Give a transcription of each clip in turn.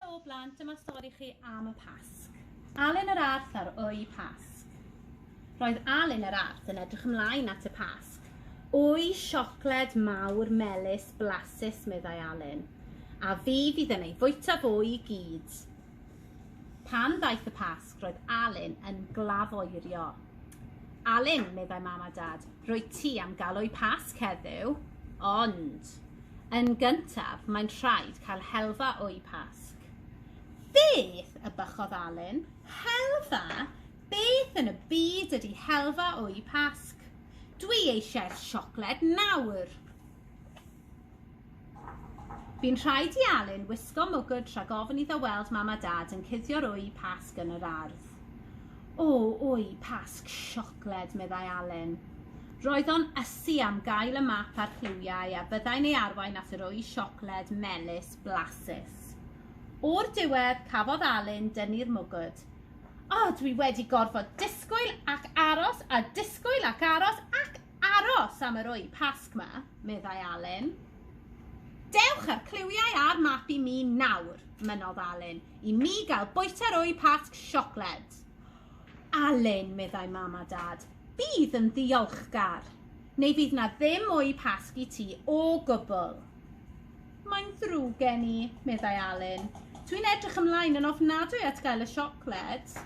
Helo blant, dyma stori chi am y Pasg. Alun yr Arth ar Wy Pasg. Roedd Alun yr Arth yn edrych ymlaen at y Pasg. Wy siocled mawr, melys, blasus, meddai Alun. A fi fydd yn ei fwyta fo i gyd. Pan ddaeth y Pasg, Roedd Alun yn glafoerio. Alun, meddai mam a dad, rwy ti am galoi pasg heddiw, ond yn gyntaf mae'n rhaid cael helfa o'i pasg. Beth? y bychodd Alun. Helfa? Beth yn y byd ydy helfa o'i pasg? Dwi eisiau'r siocled nawr. Bu'n rhaid i Alun wisgo mwgwd rhag ofn iddo weld mam a dad yn cuddio'r wy pasg yn yr ardd. O, wy pasg siocled, meddai Alun. Roedd o'n ysu am gael y map a'r lliwiau a byddai'n ei arwain at yr wy siocled melys blasus. O'r diwedd, cafodd Alun dynnu'r mwgwd. O, dwi wedi gorfod disgwyl ac aros a disgwyl ac aros ac Aros am yr ŵyn Pasg 'ma, meddai Alun. Dewch â'r cliwiau a'r map i mi nawr, mynnodd Alun, i mi gael bwyta'r ŵyn Pasg siocled. Alun, meddai mam a dad, bydd yn ddiolchgar, neu fydd na ddim ŵyn Pasg i ti o gwbl. Mae'n ddrwg gen i, meddai Alun. Dwi'n edrych ymlaen yn ofnadwy at gael y siocled.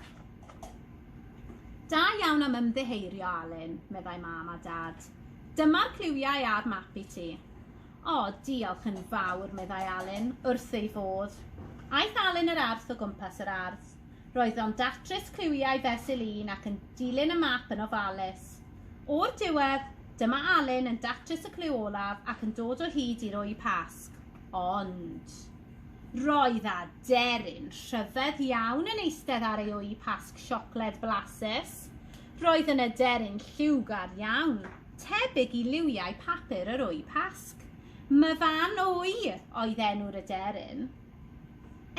Da iawn am ymddiheirio, Alun, meddai mam a dad. Dyma'r cliwiau a'r map i ti. O, diolch yn fawr, meddai Alun, wrth ei fodd. Aeth Alun yr arth o gwmpas yr ardd. Roedd o'n datrys cliwiau fesul un ac yn dilyn y map yn ofalus. O'r diwedd, dyma Alun yn datrys y cliw olaf ac yn dod o hyd i'r wy pasg. Ond... Roedd aderyn rhyfedd iawn yn eistedd ar ei wy pasg siocled blasus. Roedd yn aderyn lliwgar iawn, tebyg i liwiau papur yr wy pasg. Myfan Wy oedd enw'r aderyn.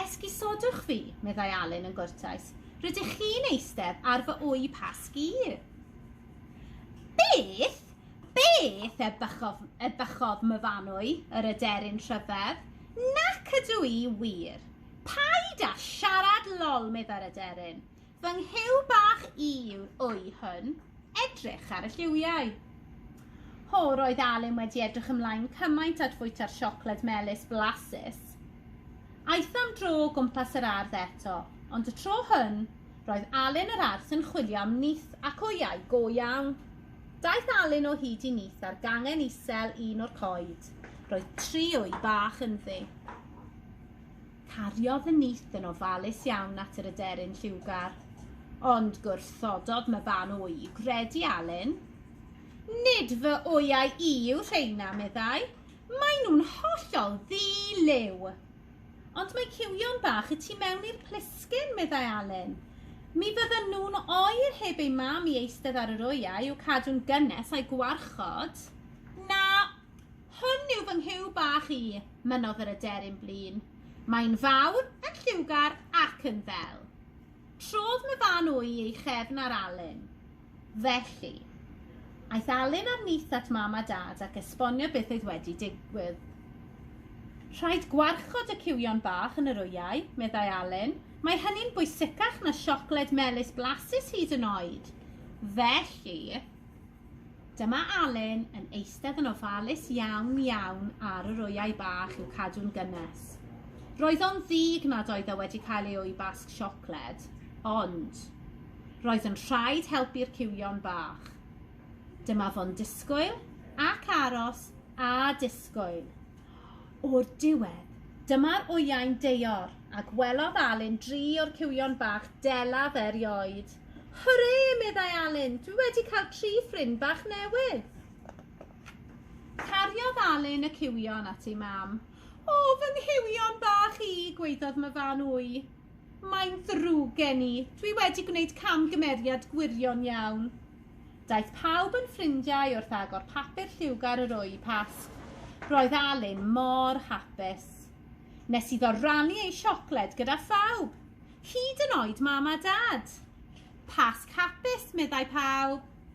Esgusodwch fi, meddai Alun yn gwrtais. Rydych chi'n eistedd ar fy wy pasg i. Beth? Beth ebychodd, ebychodd Myfanwy, yr aderyn rhyfedd. Nac ydw i, wir. Paid â siarad lol, meddai'r aderyn. Fy nghyw bach i yw wy hwn. Edrych ar y lliwiau. Ho, roedd Alun wedi edrych ymlaen cymaint at fwyta'r siocled melys blasus. Aeth am dro o gwmpas yr ardd eto, ond y tro hwn, roedd Alun yr Arth yn chwilio am nyth ac wyau go iawn. Daeth Alun o hyd i nith ar gangen isel un o'r coed. Roedd tri o'i bach ynddi. Cariodd y nith yn ofalus iawn at yr aderyn lliwgar. Ond gwrthododd Myban o'i gredu Alun. Nid fy oiau i yw rheina, meddai. Maen nhw'n hollol ddi-liw. Ond mae cywion bach y tu mewn i'r plisgyn, meddai Alun. Mi fyddan nhw'n oer heb eu mam i eistedd ar yr wyau i'w cadw'n gynnes a'u gwarchod. Na, hwn yw fy nghyw bach i, mynnodd yr aderyn blin. Mae'n fawr, yn lliwgar ac yn ddel. Trodd Myfan wy ei chefn ar Alun. Felly. Aeth Alun ar nyth at Mam a Dad ac esbonio beth oedd wedi digwydd. Rhaid gwarchod y cywion bach yn yr wyau, meddai Alun. Mae hynny'n bwysicach na siocled melys blasus hyd yn oed. Felly. Dyma Alun yn eistedd yn ofalus iawn iawn ar yr wyau bach i'w cadw'n gynnes. Roedd o'n ddig nad oedd e wedi cael ei wy basg siocled, ond roedd yn rhaid helpu'r cywion bach. Dyma fo'n disgwyl ac aros a disgwyl. O'r diwedd, dyma'r wyau'n deor, a gwelodd Alun dri o'r cywion bach delaf erioed. Hwrê! meddai Alun, dwi wedi cael tri ffrind bach newydd! Cariodd Alun y cywion at ei mam. O, fy nghywion bach i, gwaeddodd Myfan Wy. Mae'n ddrwg gen i, dwi wedi gwneud camgymeriad gwirion iawn. Daeth pawb yn ffrindiau wrth agor papur lliwgar yr ŵy Pasg. Roedd Alun mor hapus. Nes iddo rannu ei siocled gyda phawb, hyd yn oed Mam a Dad. Pasg hapus, meddai pawb.